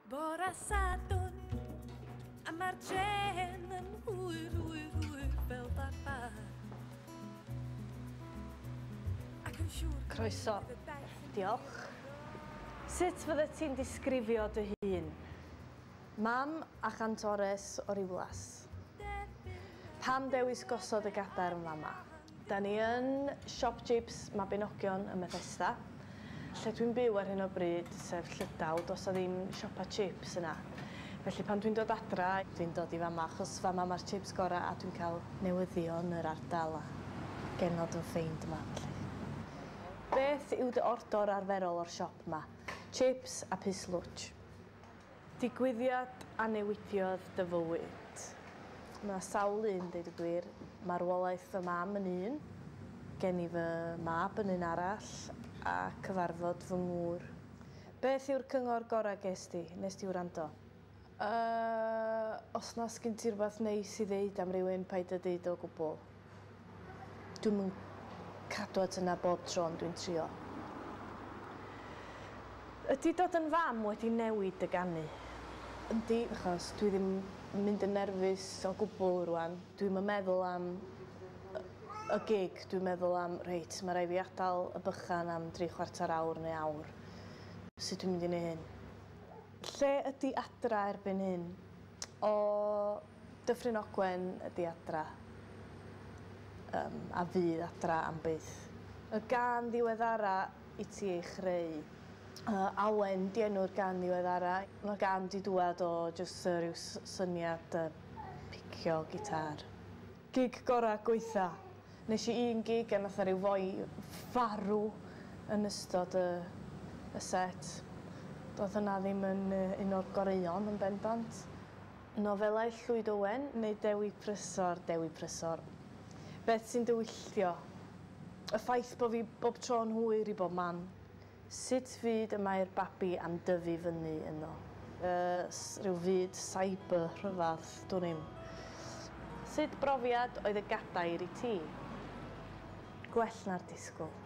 Bora Sadwn, a mae'r dren yn hwyr, hwyr, hwyr fel barbar. Ac yn siŵr... Croeso. Diolch. Sut fydde ti'n disgrifio dy hun? Mam a chantores o Riwlas. Pam dewis gosod y gadarn fama? Da ni yn Siop Jibs Mabinogion ym Methesda. Lle dwi'n byw ar hyn o bryd, sef Llydaw, does 'na ddim siopa chips yna. Felly pan dwi'n dod adra, dwi'n dod i fama achos fama mae'r chips gorau a dwi'n cael newyddion yr ardal a genod yn ffeind yma felly. Beth yw dy ordor arferol o'r siop 'ma? Chips a pys lwtsh. Digwyddiad a newidiodd dy fywyd. Mae sawl un, deud y gwir. Marwolaeth fy mam yn un, gen i fy mab yn un arall, a cyfarfod fy ngŵr. Beth yw'r cyngor gorau ges di? Wnest ti wrando? Yy, os na sgin ti rwbath neis i ddeud am rywun, paid â deud o gwbl. Dwi'm yn cadw at hynna bob tro ond dwi'n trio. Ydi dod yn fam wedi newid dy ganu? Yndi, achos dwi ddim yn mynd yn nerfus o gwbwl rŵan. Dwi'm yn meddwl am y y gig, dwi'n meddwl am 'reit, ma' raid fi adal y bychan am dri chwarter awr neu awr. Sut dwi'n mynd i neu' hyn? Lle ydi Adra erbyn hyn? O! Dyffryn Ogwen ydi adra yym a fydd adra am byth. Y gân ddiweddara i ti ei chreu? Yy Awen 'di enw'r gân ddiweddara. Ma'r gân 'di dŵad o jyst yy ryw s- syniad yy picio gitâr. Gig gora gweitha. Nesh i un gig a nath 'na ryw foi farw yn ystod y y set. Do'dd hynna ddim yn yy un o'r goreuon yn bendant. Nofelau Llwyd Owen neu Dewi Prysor, Dewi Prysor. Beth sy'n dy wylltio? Y ffaith bo' fi bob tro yn hwyr i bob man. Sut fyd y mae'r babi am dyfu fyny yno? Yy, rhyw fyd cyber rhyfadd, dwn i'm. Sut brofiad oedd y gadair i ti? Gwell na'r disgwyl.